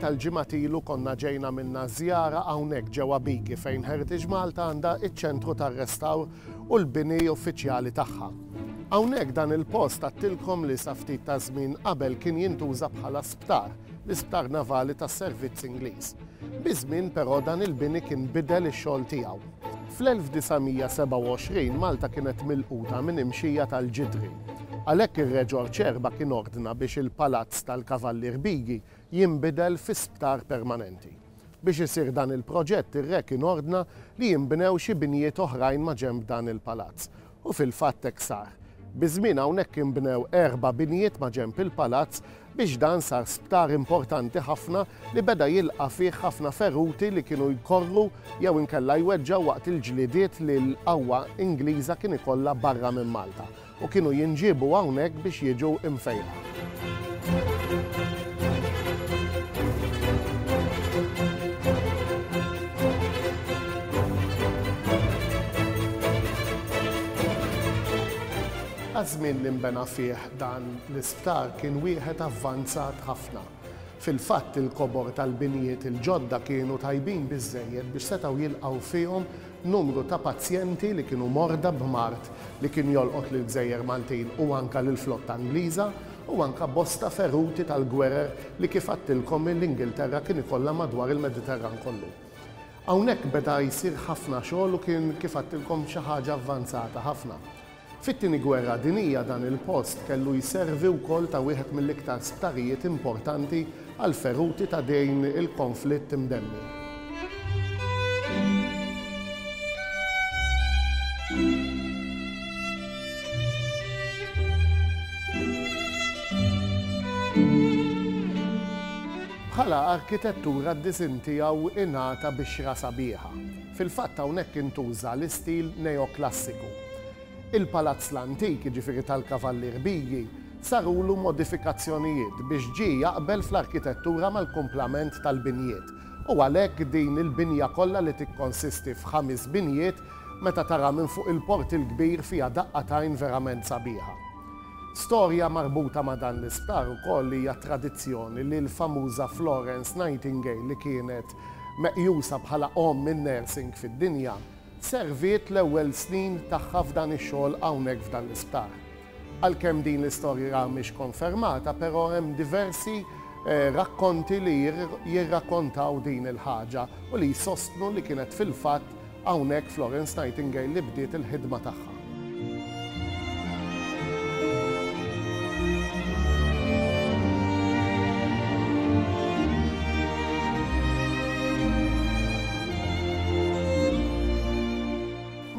tal-ġimgħat ilu konna ġejna minna żjara hawnhekk ġewwa Bigi fejn Heritage Malta għandha iċ-ċentru tar-restawr u l-bini uffiċjali tagħha. Hawnhekk dan il-post għattilkom li sa ftit ta' żmien qabel kien jintuża bħala sptar, l-isptar navali tas-servizz Ingliż. Biż-żmien però dan il-bini kien bidel ix-xogħol tiegħu. Fl-1927 Malta kienet milquta minn imxija tal-Ġidri. Għalhekk ir-Reġor Ċerba kien ordna biex il-Palazz tal-Kavallier Bigi jinbidel fi sptar permanenti. Biex isir dan il-proġett ir-Re kien ordna li jinbnew xi binjiet oħrajn maġenb dan il-Palazz U fil-fatt hekk sar. Biż-żmien hawnhekk inbnew erba' binjiet maġenb il-palazz biex dan sar sptar importanti ħafna li beda jilqa' fih ħafna feruti li kienu jkorru jew inkella jweġġgħu waqt il-ġlidiet li l-qawwa Ingliża kien ikollha barra minn Malta u kienu jinġiebu hawnhekk biex jiġu mfejqa. Għaż-żmien li nbena fih dan l-isptar kien wieħed avvanzat ħafna. Fil-fatt il-kobor tal-binjiet il-ġodda kienu tajbin biżżejjed biex setgħu jilqgħu fihom Numru ta' pazjenti li kienu morda b'mard li kien jolqot lill-gżejjer Maltin u anke lill-flotta Ingliża u anke bosta feruti tal-gwerer li kif għadtilkom l-Ingilterra kien ikollha madwar il-Mediterran kollu. Hawnhekk beda jsir ħafna xogħol u kien kif għadtilkom xi ħaġa avvanzata ħafna. Fit-Tieni Gwerra Dinjija dan il-post kellu jservi wkoll ta' wieħed mill-iktar sptarijiet importanti għall-feruti ta' dejn il-konflitt imdemmi. Bħala arkitettura d-disinn tiegħu ingħata bixra sabiħa. Fil-fatt hawnhekk intuża l-istil neoklassiku. Il-palazz l-antik, jiġifieri tal-Kavallier Biji, sarulu modifikazzjonijiet biex ġie jaqbel fl-arkitettura mal-kumplament tal-binjiet u għalhekk din il-binja kollha li tikkonsisti f'ħamis binjiet meta taraha minn fuq il-Port il-Kbir fiha daqqa t'għajn verament sabiħa. Storja marbuta ma' dan l-isptar ukoll hija t-tradizzjoni li l-famuża Florence Nightingale li kienet meqjusa bħala omm in-nursing fid-dinja, Serviet l-ewwel snin tagħha f'dan ix-xogħol hawnhekk f'dan l-isptar. Għalkemm din l-istorja mhix konfermata però hemm diversi rakkonti li jirrakkontaw din il-ħaġa u li jsostnu li kienet fil-fatt hawnhekk Florence Nightingale li bdiet il-ħidma tagħha.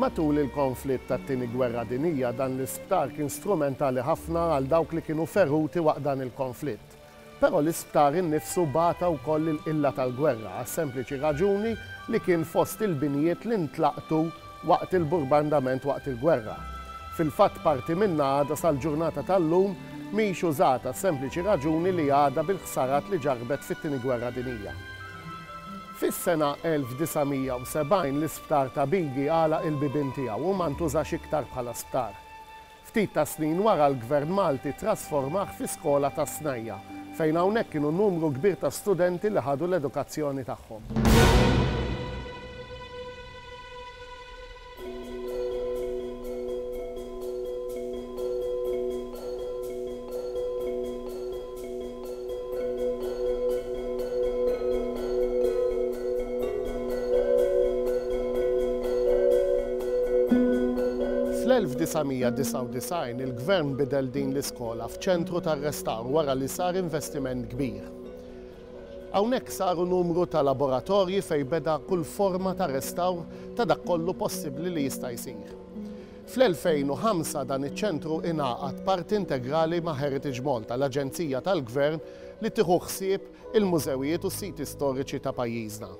Matul il-konflitt tat-Tieni Gwerra Dinjija dan l-isptar kien strumentali ħafna għal dawk li kienu feruti waqt dan il-konflitt. Però l-isptar innifsu bata wkoll il-qilla tal-gwerra għas-sempliċi raġuni li kien fost il-binjiet li ntlaqtu waqt il-burbandament waqt il-gwerra. Fil-fatt parti minnha għadha sal-ġurnata tal-lum mhix użata għas-sempliċi raġuni li għadha bil-ħsarat li ġarrbet fit-Tieni Gwerra Dinija. Fis-sena 1970 l-isptar ta' Bigi għalaq il-bibien tiegħu u ma ntużax iktar bħala sptar. Ftit tas-snin wara l-Gvern Malti ttrasformah fi skola tas-snajja', fejn hawnhekk kienu numru kbir ta' studenti li ħadu l-edukazzjoni tagħhom. Fl-1999 il-Gvern bidel din l-iskola f'ċentru tar-restawr wara li sar investiment kbir. Hawnhekk saru numru ta' laboratorji fejn beda kull forma ta' restawr ta' dak kollu possibbli li jista' jsir. Fl-2005 dan iċ-ċentru ingħaqad parti integrali ma' Heritage Malta, l-aġenzija tal-Gvern li tieħu ħsieb il-mużewijiet u s-siti storiċi ta' pajjiżna.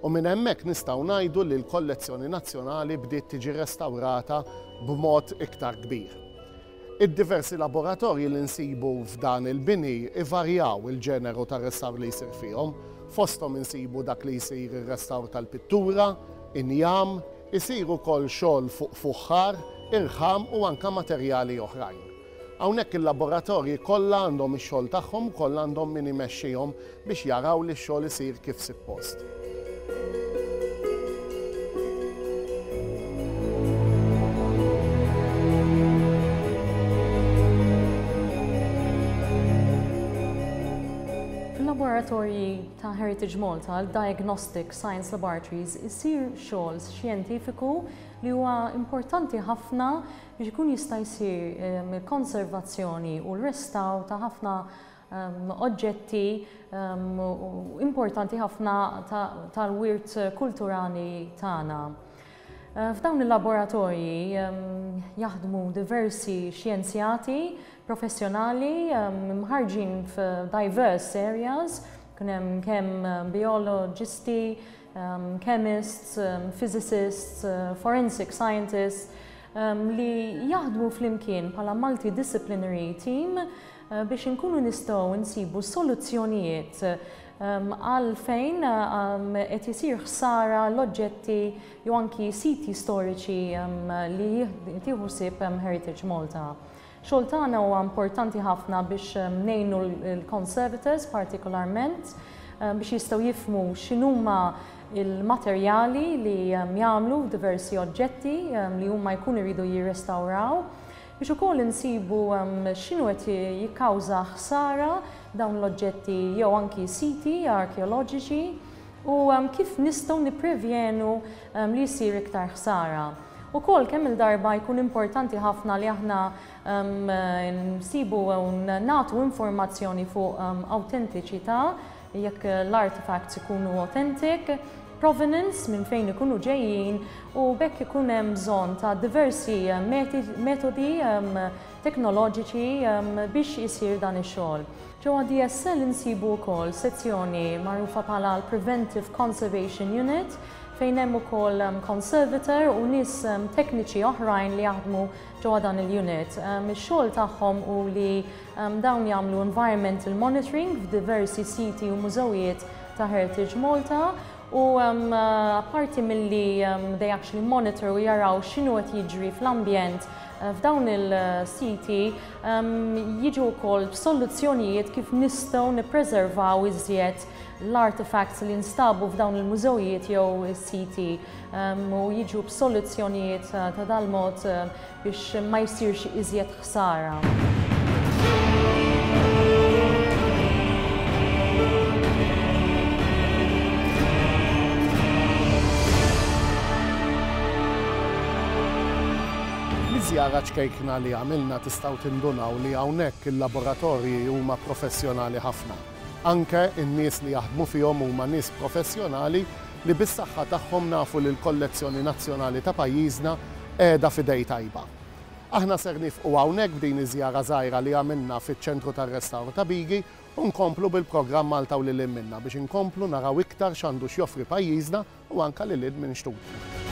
U minn hemmhekk nistgħu ngħidu li l-kollezzjoni nazzjonali bdiet tiġi restawrata b'mod iktar kbir. Id-diversi laboratorji li nsibu f'dan il-bini jvarjaw il-ġeneru tar-restawr li jsir fihom. Fosthom insibu dak li jsir ir-restawr tal-pittura, injam, Isir ukoll xogħol fuq fuħħar, irħam u anke materjali oħrajn. Hawnhekk il-laboratorji kollha għandhom ix-xogħol tagħhom ukoll għandhom min imexxihom biex jaraw li x-xogħol isir kif sippost. Fil-laboratorji ta' Heritage Malta, l-diagnostic science laboratories isir xogħol xjentifiku li huwa importanti ħafna biex ikun jista' jsir il-konservazzjoni u l-restawr ta' ħafna oġġetti importanti ħafna tal-wirt kulturali tagħna. F'dawn il-laboratorji jaħdmu diversi xjenzjati professjonali mħarġin f'diverse areas, kun hemm kemm bioloġisti, chemists, physicists, forensic scientists li jaħdmu flimkien bħala multidisciplinary team biex inkunu nistgħu nsibu soluzzjonijiet għal fejn qed isir ħsara l-oġġetti jew anki siti storiċi li tieħu ħsieb Heritage Malta. Xogħol tagħna huwa importanti ħafna biex ngħinu l-conservators partikolarment biex jistgħu jifmu x'inhuma il-materjali li jagħmlu diversi oġġetti li huma jkunu jridu jirrestawraw Biex ukoll insibu x'inhu qed jikkawża ħsara dawn l-oġġetti jew anki siti arkeoloġiċi u kif nistgħu nipprevjenu li ssir iktar ħsara. Ukoll kemm-il darba jkun importanti ħafna li aħna nsibu u nagħtu informazzjoni fuq awtentiċità jekk l-artefacts ikunu authentic, provenance, minn fejn ikunu ġejjin, u b'hekk ikun hemm bżonn ta' diversi metodi teknoloġiċi biex isir dan ix-xogħol. Ġewwa DSL insibu wkoll sezzjoni magħrufa bħala l-Preventive Conservation Unit fejn hemm ukoll conservator u nies tekniċi oħrajn li jaħdmu ġewwa dan il-unit. Ix-xogħol tagħhom hu li Dawn jagħmlu environmental monitoring f'diversi siti u mużewijiet ta' Heritage Malta u apparti milli they actually monitor u jaraw x'inhu qed jiġri fl-ambjent f'dawn il-siti jiġu wkoll b'soluzzjonijiet kif nistgħu nippreservaw iżjed l-artefacts li nstabu f'dawn il-mużewijiet jew is-siti u jiġu b'soluzzjonijiet ta' dal-mod biex ma jsirx iżjed ħsara. żjara ċkejkna li għamilna tistgħu tindunaw li hawnhekk il-laboratorji huma professjonali ħafna. Anke n-nies li jaħdmu fihom huma nies professjonali li bis-saħħa tagħhom nafu li l-kollezzjoni nazzjonali ta' pajjiżna qiegħda f'idej tajba. Aħna ser nifqu hawnhekk b'din iż-żjara żgħira li għamilna fiċ-Ċentru tar-Restawr ta' Bigi u nkomplu bil-programm Malta u lil hinn minnha biex inkomplu naraw iktar x'għandu x'joffri pajjiżna u anke lil hinn minn xtutna.